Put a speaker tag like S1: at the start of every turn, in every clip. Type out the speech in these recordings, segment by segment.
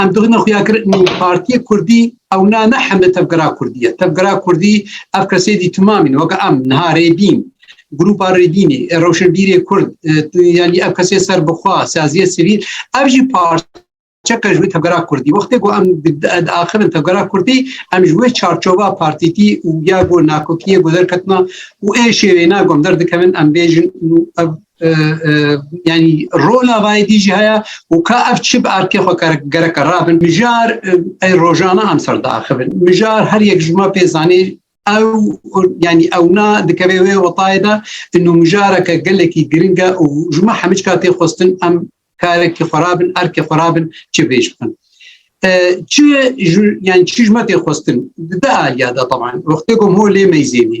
S1: Em dixne xuya kir partiyê Kurdî ew na ne hemle tevgera Kurdî ye. Tevgera Kurdî ev kesê dî timamîn weke em niha rêbîn grupa rêbînî e, rewşenbîrê Kurd e, yanî ev kesê ser bixwa saziyê sivîl ev jî partî çeka ji wê tevgera Kurdî wextê ku em diaxirin tevgera Kurdî em ji wê çarçova partîtî û ya ku nakokiyê ku derketina û ê şêwêna gom derdikevin em bêjin û ev yani rola vayê dî jî heye û ka ev çi bi erkê xwe gereke rabin mijar ey rojana em ser diaxivin mijar her yek ji ma pê zanê ew yani ewna dikevê wê wetayê de nû mijareke gelekî giringe û ji ma hemî ka tê xwestin em karekî xwe rabin erkê xwe rabin çi bêj bikin çi yani çi ji ma tê xwestin di aliya de taban wextê gom holê meyzênî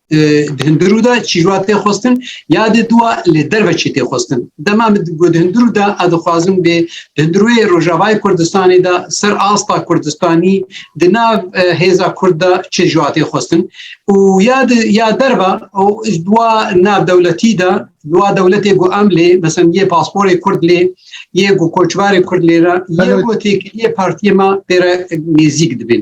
S1: di hindir û de çîrwa tê xwestin ya dê dûa lê derve çî tê xwestin dema min di hindir û de ez dixwazim bê di hindir wê rojavayê kurdistanê de ser asta kurdistanî di nav hêza kurd de çi ji tê xwestin û ya di ya derva û dûa nav dewletî de dûa dewletê ku em lê mesela yê pasporê kurd lê yê ku koçbarê kurd lê re yê ku têkiliyê partiyê me pêre nêzîk dibin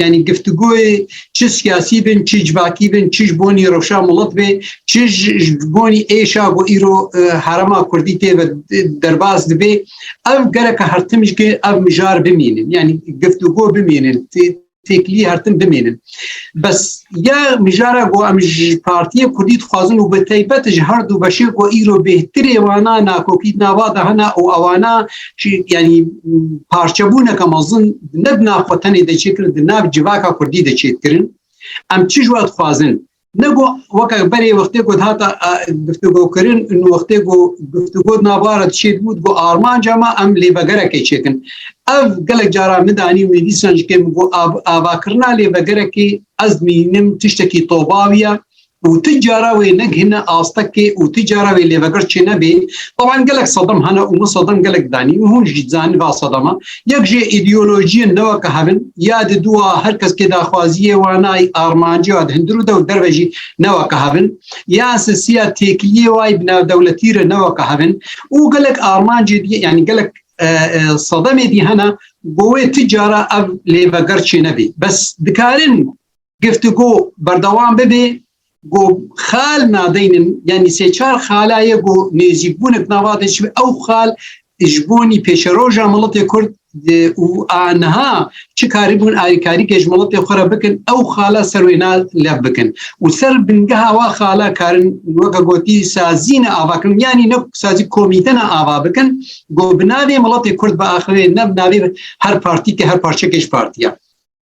S1: Yani giftigoyê çi siyasî bin, çi civakî bin, çi ji bonî rewşa milet bê, çi ji bonî êşa ku îro e, herema Kurdî tê ve derbas dibê, ev gereke hertim ji ev mijar bimînin. Yani giftigo bimînin, têkilî hertim bimînin. Bes ya mijara ku em ji partiyê Kurdî dixwazin û bi taybet ji her du beşê ku îro bêhtirê wana nakokî nava de hena û awana yani parçebûneke mezin di ne di nav xwe tenê de çêkirin di nav civaka Kurdî de çêdikirin em çi ji we dixwazin ne got weke berê wextê got hata giftigokirin û wextê got giftigo navara çêd bû got armanca me em lêvegerekê çêkin ev gelek cara min danî min dîsan ji kêm got avakirina lêvegerekê ez mînim tiştekî tobawiya û tu cara wê negihîne astekê û tu cara wê lêveger çê nebê taban gelek sedem hene û min sedem gelek danî û hûn jî zanî va sedema yek jê îdeolojiyên neweke hevin ya di dua her kes kê daxwaziyê wanayî armancê wa di hindir û dew derve jî neweke hevin ya sisiya têkiliyê wayî bi navdewletî re neweke hevin û gelek armancê diye yanî gelek sedemê dî hene govê tu cara ev lêveger çê nebê bes dikarin Giftigo berdewam bibê ku xal nadeynin yanî sê çar xala ye ku nêzîkbûnek nava de çi ew xal ji bonî pêşeroja miletê Kurd û a niha çi karî bûn alîkarîkê ji miletê xwe re bikin ew xala ser wê na lev bikin û ser bingeha wa xala karin weke gotî sazîne avakin yanî ne sazî komîtena ava bikin ku bi navê miletê Kurd biaxivê ne bi navê her partîkê her parçekê ji partiya.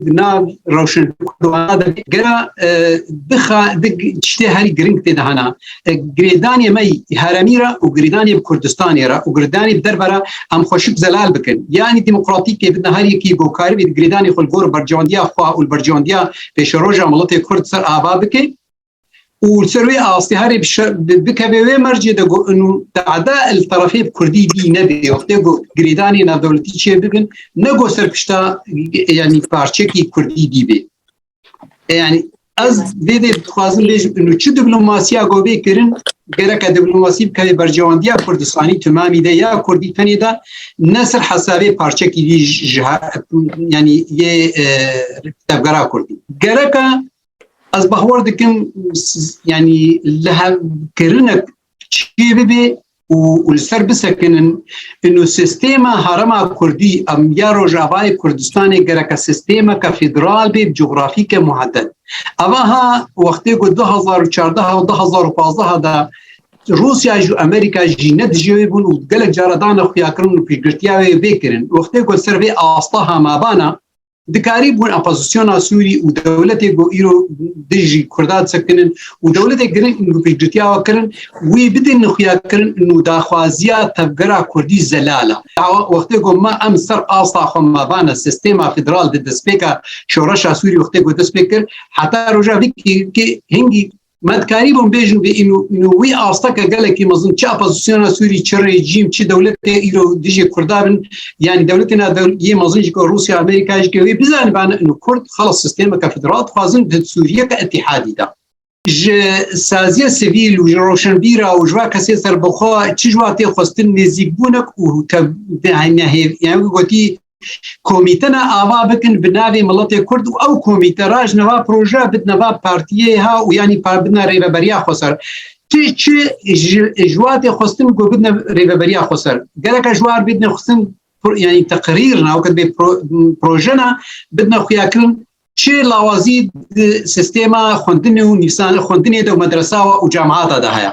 S1: nav rewşen gera dixa tiştê herî girîng tê dihana girêdanê me heremî re û girêdanê bi Kurdistanê re û girdanê bi derve re em xweşik zelal bikin yanî demokratîkê bidin herîkî gokarî bê girêdanê xwe li gor berjewandiya xwe û li berjewandiya pêşeroja miletê Kurd ser ava bike. û li ser wê astê herê bikevê wê mercê de got û dada li terefê bi Kurdî bî nebê wextê got girêdanê navdewletî çê bibin ne got ser pişta yanî parçekî Kurdî dî bê. Yani ez vê dê dixwazim bêjim û çi diplomasiya got bê kirin gereke diplomasî bikevê bercewandiya Kurdistanî timamî de ya Kurdî tenê de ne ser hesabê parçekî dî ji yanî yê tevgera Kurdî. Gereka Ez bahwar dikim yani li hevkirinek çi bibê û li ser bisekinin inu sistêma herema Kurdî em ya Rojavayê Kurdistanê gereke sistêmeke federal bê coğrafîke muhedded. Eva ha wextê ku 2014 û 2015 de Rusya ji Amerika jî ne dijî wê bûn û gelek cara dane xuyakirin û pêşgirtiya wê vê kirin. Wextê ku ser vê asta hemabana Dikarî bûn opozisyona Sûrî û dewletê ku îro dijî Kurda sekinin û dewletê girin û piştgirtiya we kirin wî bidin xuya kirin û daxwaziya tevgera Kurdî zelala. Ewa wextê ku me em ser asta xwe me vane sistêma federal di destpêka şoreşa Sûrî wextê ku destpê kir heta roja vî kê hingî Me dikarî bûm bêjin vê ino wî asteke gelekî mezin çi opozisyona Sûrî çi rejîm çi dewletê îro dijê Kurda bin yanî dewletê na yê mezin jî ku Rûsya Amerîka jî ke wê bizanibane ino Kurd xelas sistêmeke federal dixwazin di Sûriyeke îtîhadî de ji saziya sivîl û ji roşenbîra û ji va kesê serbixwe çi ji wa tê xwestin nêzîkbûnek û tevnehêv yani gotî komîtena ava bikin bi navê miletê Kurd û ew komîte raj neva proje bid neva partiyê ha û yanî par bidna rêveberiya xwe ser. Ti çi ji watê xwestin ku bidne rêveberiya xwe ser. Gereka ji war bidne xwestin yanî teqirîr na wekit bê projena bidne xuyakirin çi lawazî sistêma xwendinê û nîvsan xwendinê de û medresawa û camata de heye.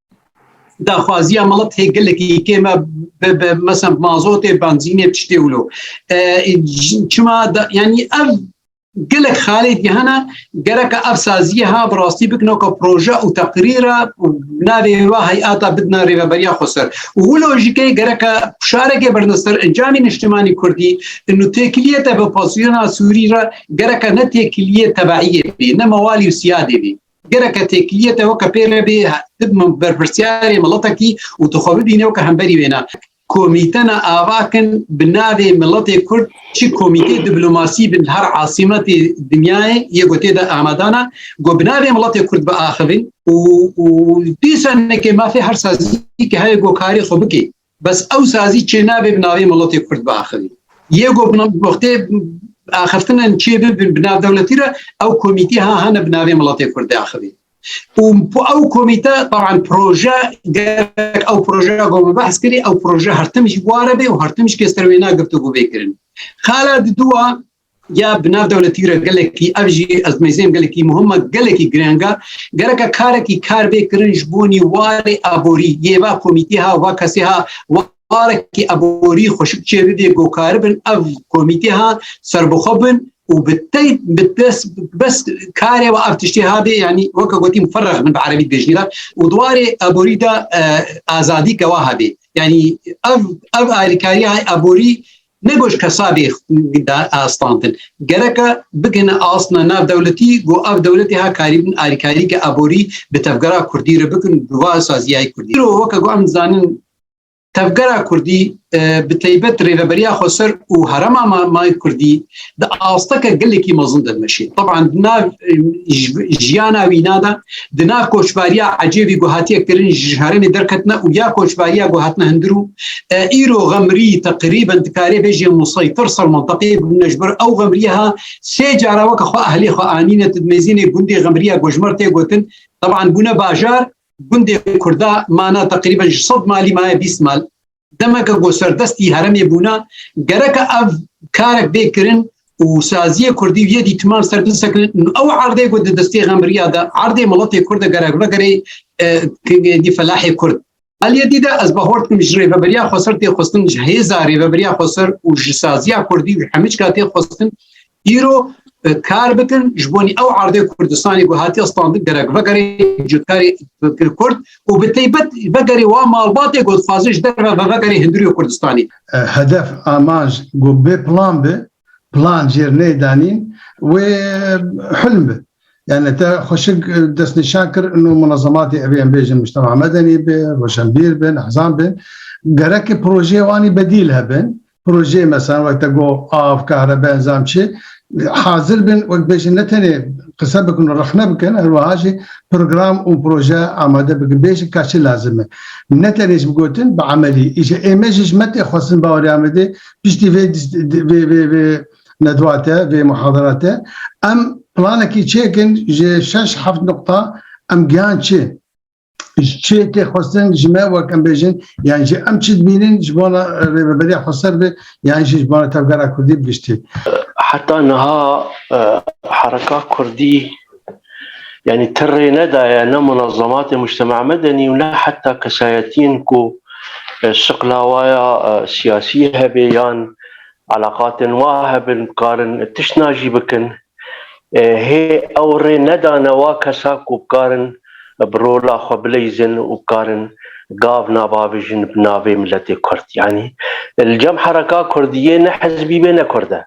S1: daxwaziya mala têgilekî kê me mesem mazotê benzînê tiştê wilo çima yanî ev gelek xalê dihana gereka ev saziye ha bi rastî bikno ka proje û teqrîra navê wa heyata bidna rêveberiya xweser û wilo jî kê gereka pişarekê bernester encamî niştimanî kurdî nû têkiliye te bi pasiyona sûrî re gereka ne têkiliye tebeiyê bî ne mewalî û siyadê bî Gereke têkiliyê te weke pê re bê bibme berpirsyarê miletekî û tu xwe bibîne weke hemberî wê ne. Komîtena Avakin bi navê Miletê Kurd çi komîtê diplomasî bin her asîmetê dinyayê yê ku tê de amadana ku bi navê Miletê Kurd biaxivin û û dîsa nekê mafê her sazî ke heye ku karê xwe bikê. Bes ew sazî çênabê bi navê miletê Kurd biaxivî. Yê ku wextê axiftinan çêbibin bi nav dewletî re ew komîtî ha hane bi navê miletê Kurd axivî. û ew komîte taban proje gerek ew projeya ku me behs kirî ew proje her tim jî ware bê û her tim jî kes ter wêna giftugû bê kirin. Xala di dûa ya bi nav dewletî re gelekî ev jî ez mêzên gelekî muhima gelekî girênga gereka karekî kar bê kirin ji bonî warê aborî yê va komîtî ha va kesê ha warekî aborî xweşik çê bibê gokari bin ev komîtî ha serbixwe bin û bi tey bi des bes karê ve ev tiştê ha bê yanî weke gotîm ferrex min bi erebî dibêjî re û di warê aborî de azadî ke wa hebê yanî ev ev alîkarî aborî Ne goş kesabî da astantin. Gereka bigene asna nav dewletî go av dewletê ha karîbin arîkarîke aborî bi tevgera Kurdî re bikin bi va sazîyayî Kurdî. Îro weke go em zanin tevgera Kurdî bi teybet rêveberiya xweser û herema ma Kurdî di asteke gelekî mezin de dimeşî. Teban di nav jiyana wîna de di nav koçbariya ecêvî ku hatiye kirin ji herêmê derketine û ya koçbariya ku hatine hindir û îro xemrî teqrîben dikarê bêjê museytir ser menteqê bûne ji ber ew xemriye ha sê cara weke xwe ehlê xwe anîne di mêzînê gundê xemriya gojmer tê gotin teban bûne bajar gundê kurda mana teqrîben ji sed malî maye bîst mal demeke ku serdestî heremê bûna gereke ev karek bê kirin û saziyê Kurdî yê dîtiman ser bisekin ew erdê ku di destê xemriya de erdê miletê Kurd gerek vegerê dî felahê Kurd. Aliyê dî de ez bahort kim ji rêveberiya Xweser tê xwestin ji hêza rêveberiya Xweser û ji saziya Kurdî û hemîçka tê xwestin îro kar bikin ji bonî ew erdê Kurdistanê ku hatiye standin gerek vegerê cotkarê Kurd û bi teybet vegerê wa malbatê ku dixwazin ji derve ve vegerê hinduriyo Kurdistanê. Hedef amanc ku bê plan bi plan cêr neydanîn wê hilm bi. Yani te xweşik destnîşan kir û munezematê evê em bêjin mujtema medenî bi, roşenbîr bin, ehzan bin. Gerekê projeyê wanî bedîl hebin. projeyê mesela wek te got av, kahrebe enzam çi hazir bin wek bêjin ne tenê qise bikin û rexne bikin her wiha jî program û proje amade bikin bêjin ka çi lazim e. Ne tenê ji bi gotin bi emelî îşe ê me jî ji me tê xwestin bawerê Amedê piştî vê vê vê vê nedwa te vê muhadara te em planekî çêkin ji şeş heft nuqta em giyan çi. ji çi yekê xwestin ji me wek em bêjin yan jî em çi dibînin ji bona rêveberiya xweser bi yan jî ji bona tevgera Kurdî bi giştî. Heta niha e, hereka Kurdî yani tirrê nedaye ne munazamatê mujtema medenî û ne heta kesayetiyên ku e, şiqlawaya e, siyasî hebe yan alaqatên wa hebin karin tişt najî bikin. Hê ew rê nedane wa kesa ku bikarin bi rola xwe bileyzin û bikarin gav navabijin bi navê miletê kurd. Yanî li cem hereka kurdiyê ne hizbî be ne kurd e.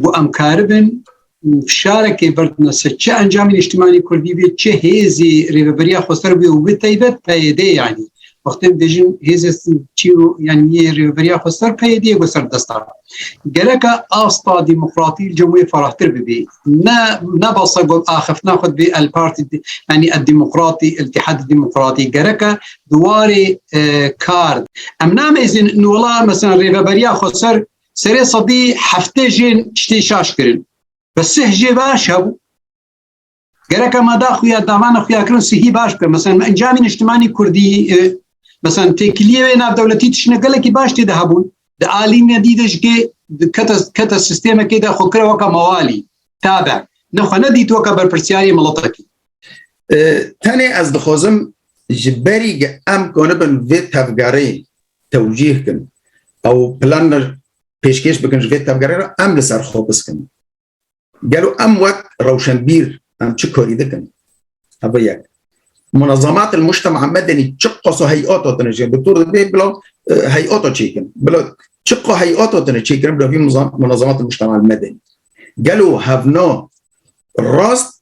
S1: Ku em karibin fişarekê berdine ser çi encamê niştimanê kurdî be, çi hêzê rêveberiya xweser be û bi taybet PYD yanî. Wextê em dibêjin hêzê çî yanî yê rêveberiya xweser PYD ye ku ser dest da. Gereka asta demokratî li cem wê ferahtir bibî. Ne ne basa got axiftina xwe dibê el partî yanî el demokratî iltîhadî demokratî gereka di warê kar em namêzin wela mesela rêveberiya xwe ser serê sedî heftê jên tiştê şaş kirin. Bi sih jê baş hebû. Gerek ama da xuya davana xuya kirin sihî baş bikin. Mesela me encamî niştimanî Kurdî mesela têkiliyê wê nav dewletî tişine gelekî baş tê de hebûn. Di alî ne dî de ji kê keta keta sistêmekê de xwe kira weka mawalî tabe. Ne xwe ne dît weka berpirsiyarê miletekî. Tenê ez dixwazim ji berî ge em konibin vê tevgerê tewcîh kin ew plan pêşkêş bikin ji vê tevgerê re em li ser xwe biskin. Gelo em wek rewşenbîr em çi karî dikin? Ev yek. Munezamat el mujtema medenî çi qasa heyata tine jê doktor dibê bila e, heyata çêkin. Bila çi qa heyata tine çêkirin bila vî munezamat el mujtema medenî. Gelo hevna rast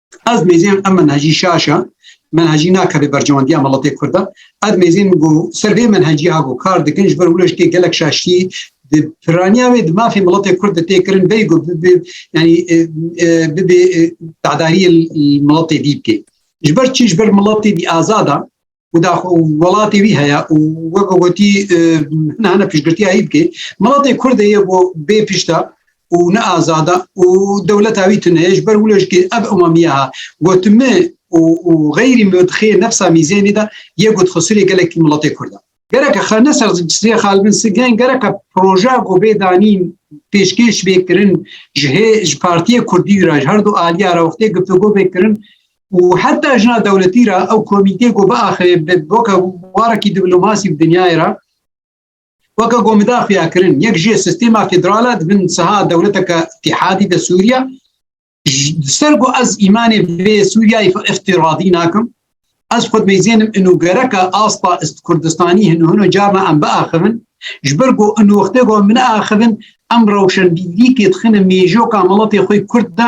S1: Ez mêzên em menhecî şaşa menhecî nakeve bercewandiya meletê Kurd e. Ez mêzên min ku ser vê menheciya ku kar dikin ji ber wilo ji tê gelek şaştî di piraniya wê di mafê meletê Kurd de tê kirin bey ku bibê yanî e, e, bibê e, dadariyê meletê dî bikê. Ji ber çi ji ber meletê dî azada û daxo welatê wî heye û weke gotî hina hina piştgirtiya hî bikê milatê Kurdê ye bo bê pişta û ne azada û dewleta wî tune ji ber wilo jikê ev emamiya ha gotimi û û xeyrî mixê nefsa mîzênê de yê got xisirê gelekî milatê Kurda. Gereke xe ne ser sê xalbin sigên gereke proja ku bê danîn pêşkêş bê kirin ji hê ji Partiya Kurdî ra ji her du aliya ra wextê guftûgo bê kirin û heta jina dewletî re ew komîtê ku biaxivê weke warekî diplomasî bi dinyayê re weke gomida xuyakirin yek jê sistêma federala dibin siha dewleteke îtîhadî de Sûriye ser ku ez îmanê vê Sûriyeyê îftiradî nakim ez xud mêzênim û gereke asta Kurdistanî hin hino carna em biaxivin ji ber ku û wextê ku min axivin em rewşenbîrîkê dixine mêjoka miletê xwe Kurd de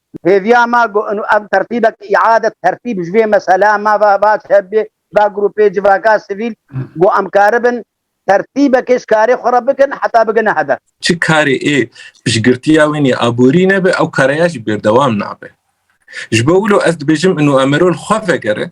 S1: Hêviya ma ku ev tertîbek îade tertîb ji vê mesela ma va va çebi va grûpê civaka sivîl ku em karibin tertîbekê ji karê xwe re bikin heta bigine hedef. Çi karê ê piştgirtiya wê nê aborî nebe ew kareya jî bêrdewam nabe. Ji bo wilo ez dibêjim inu emero li xwe vegere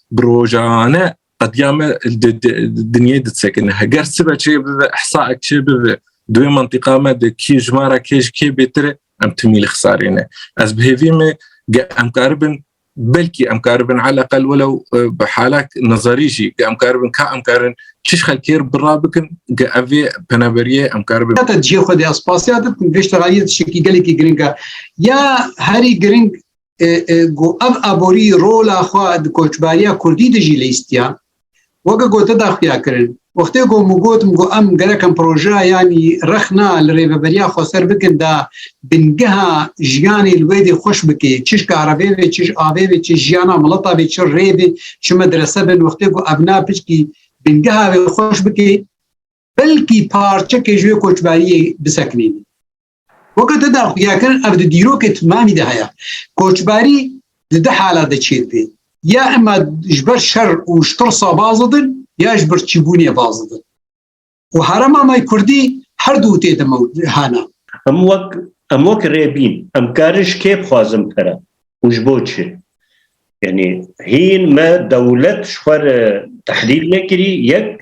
S1: Bi rojane qediya me dinyê disekine. Heger sibe çê bibe, ihsaek çê bibe, دوێ منطقا me de kî ji me re kê ji kê bêtir e em timî li xisarêne ez bi hêvî me ge em karibin belkî em karibin eleqel welew bi halek nazarî jî ge em karibin ka em karin çiş xelkêr bira bikin ge evê peneberiye em karibin heta cihê xwe de ez spasya dikim vêşterayê şekî gelekî giringa ya herî giring گو ev aborî rola xwe di koçbariya Kurdî de jî lîstiya weke gote daxuya kirin. Wextê ku min gotim ku em gerekin projeya yanî rexna li rêveberiya xweser bikin da bingeha jiyanê li wê dê xweş bikê çiş karevê vê çiş avê vê çiş jiyana mileta vê çi rê vê çi medrese bin wextê ku evna piçkî bingeha vê xweş bikê belkî parçekê ji wê koçbariyê bisekinîn. Weke te daxuyakirin ev di dîrokê timamî de heye. Koçberî di du halat de çêdibê. Ya ema ji ber şer û ştirsa baz didin ya ji ber çîbûnê baz didin. û herema me Kurdî her du tê de hana. Em wek em wek rê bîn em karin ji kê bixwazin pere û ji bo çi? Yanî hîn me dewlet ji xwe re tehlîl nekirî yek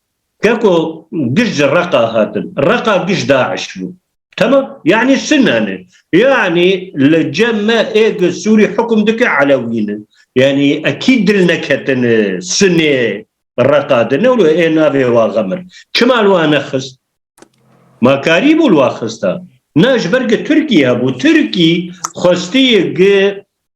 S1: Ke ku giş ji Reqa hatin. Reqa giş DAIŞ bû. Temam. Yanî Sine ne. Yanî li cem me ê ku Sûrî hukm dike Elewî ne. Yanî ekî dil neketin Sinê Reqa de ne wilo ê navê wa xemir. Çima li wa nexist? Ma karî bû li wa xista. Na ji ber ku Tirkî hebû. Tirkî xwestiye ku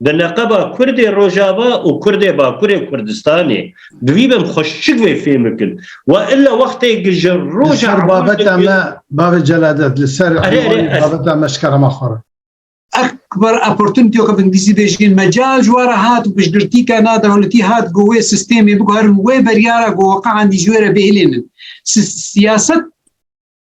S1: Bi leqeba Kurdê Rojava û Kurdê Bakurê Kurdistanê bi vî bin xweş çi guê fêm bikin. Wa illa wextê ki ji roja Li ser babeta me bavê Celadet li ser envanê babeta me ji kerema xwe re. Eqber opportunity weke bi îngilîzî bêjin mecal ji we re hat û piştgirtîka na dewletî hat ku wê sistêmê biguherin wê beryara ku weqean dî ji wê re bêhilînin. Siyaset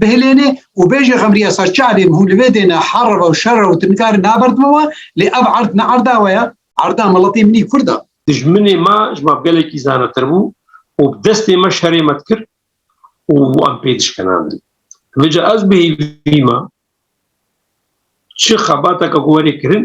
S1: Bihêlêne û bê jî xemriya sar çavên hûn li vê dêne herva û şerra û tinkarî nabert min we lê ev erd ne erda we ye, erda miletê min î kurd a. Dijminê me ji me bi gelekî zanetir bû û bi destê me şerê me dikir û em pê dişkenandin. Vê ca ez bihêvî me çi xebateke ku werê kirin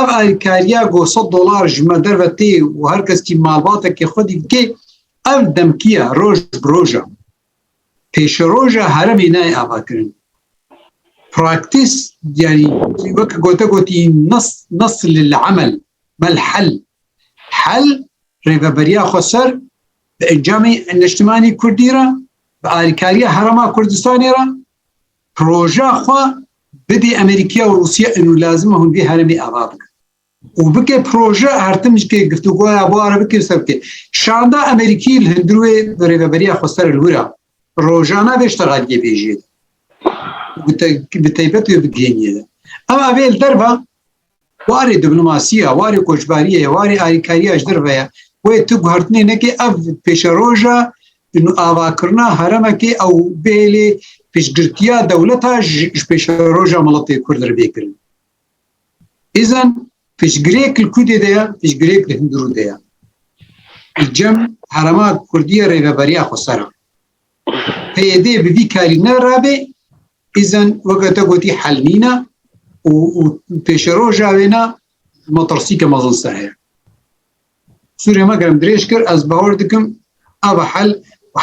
S1: Ev alîkariya ku sed dolar ji me derve tê û her keskî malbatekê xwe dî dike, ev demkiya roj bi roja pêşeroja heremê nayê avakirin. Praktîs yanî weke gote gotî nas nas li li emel mel hel hel rêveberiya xwe ser bi encamê neştimanî Kurdî re bi alîkariya herema Kurdistanê re proja xwe bidê Amerîkaya û Rûsya êno lazim e hûn vê herêmê ava bikin. û bike proje hertim ji kê giftugoya bare bike ser bike. Şanda Amerîkî li hundir wê bi rêveberiya xwe ser li wir a rojana vê şta radiyê bêjê de. Bi taybet wê bigihêniyê de. Ew evê li derva Warê diplomasiya, warê koçberiyê, warê alîkariya ji dir veye. Wê tu guhertinê nekê ev pêşeroja avakirina heremekê ew bêlê piştgirtiya dewleta ji pêşeroja miletê Kurd re bêkirin. Îzen piştgirêk li Kudê de ye, piştgirêk li Hindurû de ye. Cem herema Kurdiye rêveberiya xwe ser e. Peyedê bi vî karî ne rabê îzen weke te gotî hel nîne û û pêşe roja wêne motorsîke mezin ser heye. Sûrê me germ dirêj kir ez bawer dikim ava hel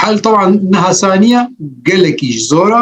S1: hel taban niha saniye gelekî ji zora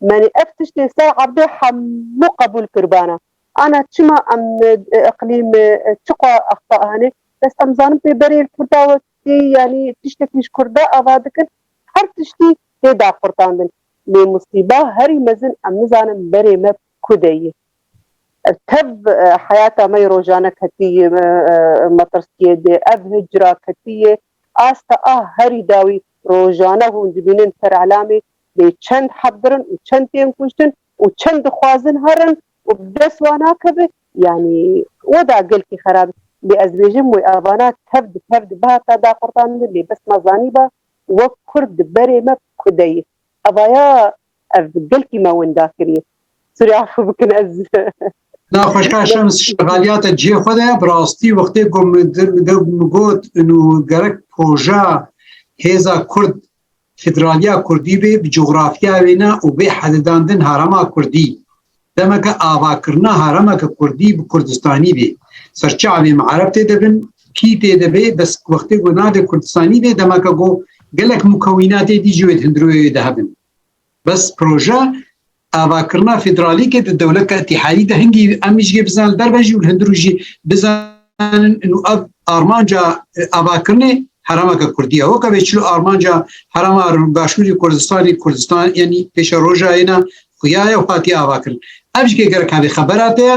S1: Menî ev tiştên ser erdê hemû qebûl kiribana. Ana çima em îqlîm çiqo axta hene? Bes em zanin pê berê li Kurda wekî yanî tiştekî ji Kurda ava dikin her tiştî tê daqurtandin. Lê musîba herî mezin em nizanin berê me ku de ye. Ev tev heyata me yê rojane ketî metirsiyê de. Ev hicra ketî yê asta a herî dawî. Rojane hûn dibînin terelamê lê çend hebdirin û çend tên kuştin û çend dixwazin herin û bi dest wan nakevi yanî weda gelkî xerab e. Lê ez dibêjim wê evana tev di tev di bihata daqurtandin lê bes ma zanîba wek kurd di berê me ku de yê. Evaya ev gelkî me winda kiriye. Sûrî afû bikin ez. Na xweşka Şems şegaliyate cihê xwe de bi rastî wextê ku min got inu gerek poja hêza kurd Federaliya Kurdî bê bi cografiya wê ne û bê hedidandin herema Kurdî. Demeke avakirina heremeke Kurdî bi Kurdistanî bê. Serçavê me ereb tê de bin, kî tê de bê, bes wextê ku navê Kurdistanî bê demeke ku gelek mukewînatê dî ji wê di hundirûyê de hebin. Bes proje avakirina federalîkê di dewleta îtîhayî de hingî em jî bizanin li derve jî û li hundir û jî bizanin û ev armanca avakirinê heremeke Kurdî ye. Weke vê çil û armanca herema Başûrî Kurdistanê Kurdistan yanî pêşe rojayê ne xuya ye û hatiye avakirin. Ev jî gerek hevê xebera te ye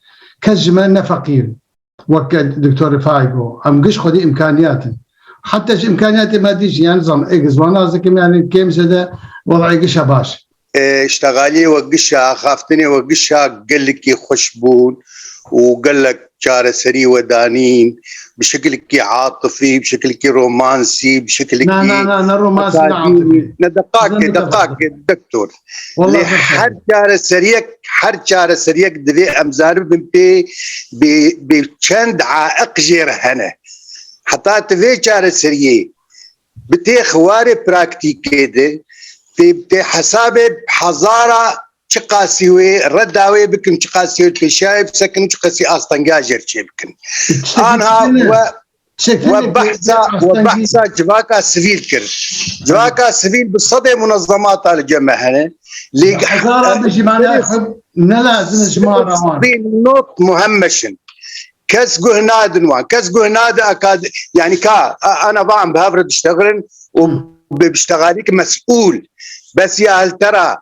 S1: Kes ji me ne feqîr in. Wek Doktor Rifai got, em giş xwedî îmkanîyat in. Heta ji îmkanîyatê madî jî yanî zam ê zwanan ez dikim yanî kêm zêde wezîyê giş e baş e. Îştegalîyê wek giş e, axaftinê wek giş e gelekî xweş bûn û gelek çareserî we danîn bi şekilekî atifî, bi şekilekî romansî, bi şekilekî. Na na na ne romansî ne atifî. Ne deqakê deqakê Doktor. Lê her çareseriyek her çareseriyek divê em zaribin pê bê çend aiq jê re hene. Heta tu vê çareseriyê bi tê xiwarê praktîkê de pê pê hesabê hezara çi qasî wê re dawê bikin çi qasî wê pêşayê bisekin çi qasî astengajê çê bikin. Anha we We behsa we behsa civaka sivîl kir. Civaka sivîl bi sedê munezemata li cem hene. Lê not muhemmeşin. Kes guh nadin wan. Kes guh nadi akad yani ka ana van bi hevre diştegrin û bi biştegarîk mes'ûl. Bes ya hiltera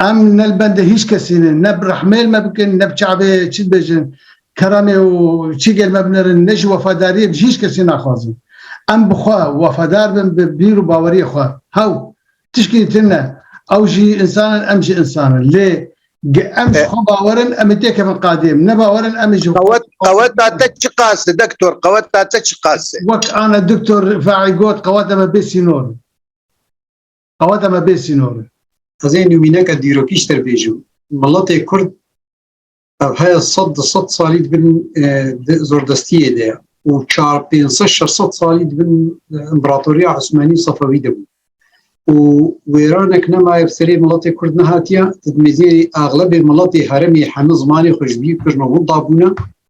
S1: Em ne li bendê hîç kesî ne, ne bi rehmêl me bikin, ne bi çavê çi dibêjin, keramê û çi gel me binirin, ne jî wefadariyê bi hîç kesî naxwazin. Em bi xwe wefadar bin, bi bîr û baweriyê xwe. Hew, tişkî din ne. Ew jî însan in, em jî însan in. Lê ge em ji xwe bawer in, em ê têkevin qadê em ne bawer in, em ê ji xwe Qewet, qeweta te çi qas e dektor, qeweta te çi qas e? Wek ana Doktor Faî got, qeweta me bê sînor in. Qeweta me bê sînor e. Ez ê nûmîneke dîrokî ji te re bêjim. Miletê Kurd ev heya sed du sed salî di bin zordestiyê de ye û çar pênc sed şeş sed salî di bin împeratoriya Osmanî û Sefewî de bû û wêranek nemaye bi serê miletê Kurd nehatiye. Ti di mêzê eglebê miletê herêmê heme zimanê xwe ji bîr kirin û hûn dabûne.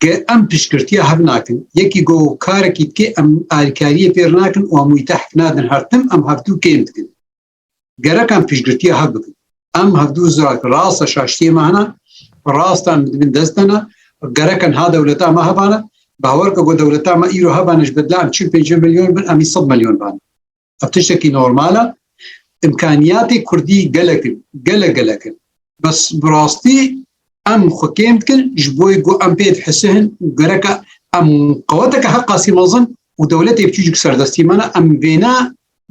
S1: Ke em piştgirtiya hev nakin. Yekî got karekî dike em alîkariyê fêr nakin û em wî tehk nadin her tim em hevdu kêm dikin. Gerek em piştgirtiya hev bikin. Em hevdu zirag rast e şaştiyê me hene, rastan min dibin dest hene, gerek e niha dewleta me hebane, bawer ke got dewleta me îro hebane ji bedla em çil pêncî milyon bin em î sed milyon bane. Ev tiştekî normal e. Îmkaniyatê Kurdî gelek in, gelek gelek in. Bes bi rastî em xwe kêm dikin ji bo ku em pê dihisihin û gereka em qeweteke heqa sî mezin û dewletê biçûcik serdestî me ne em vêna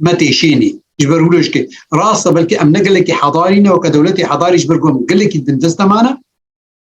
S1: me têşênî. Ji ber wilo jikê rast e belkî em ne gelekî hedarî ne weke dewletê hedarî ji ber ku em gelekî dindest de mane.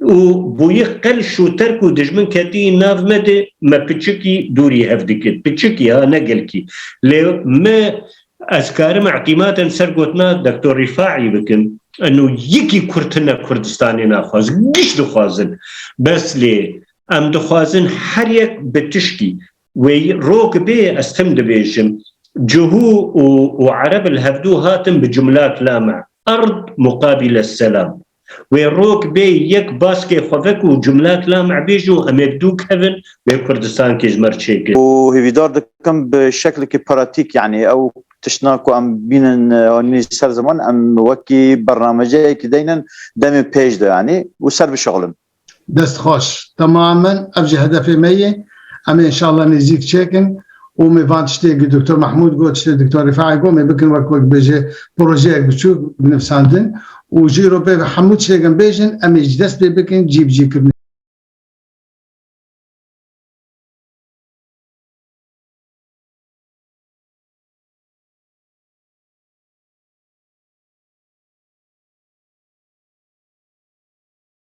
S1: û bûyî qel şûter ku dijmin ketiyî nav me de me piçikî dûrî hev dikir. Piçikî ha ne gelkî. Lê me ez karim îtîmadên ser gotina Doktor Rîfaî bikim eno yekî Kurd tine Kurdistanê naxwaz. Giş dixwazin. Bes lê em dixwazin her yek bi tişkî wê rok bê ez tim dibêjim Cihû û Ereb li hevdû hatin bi cumlak la me erd muqabîle selam. Wê rok bê yek baskê xwevek û cumlak lamebêj û emêk dû kevin wê Kurdistankê ji mer çêkir. Û hêvîdar dikim bi şeklikî pratîk yanî ew tiştna ku em bînin anînî ser ziman em wekî bernameceyekî deynin demê pêj de yanî û ser bişixulin. Dest xweş. Temamen ev jî hedefê me yê. Em ê înşallah nêzîk çêkin û mê van tiştê ku Doktor Mahmûd got, tiştê Doktor Rîfai got, mê bikin wek ku dibêje projeyek biçûk binivsandin û ji îro pê ve hemû tiştêk em bêjin em ê ji dest pê bikin cîbicîkirine.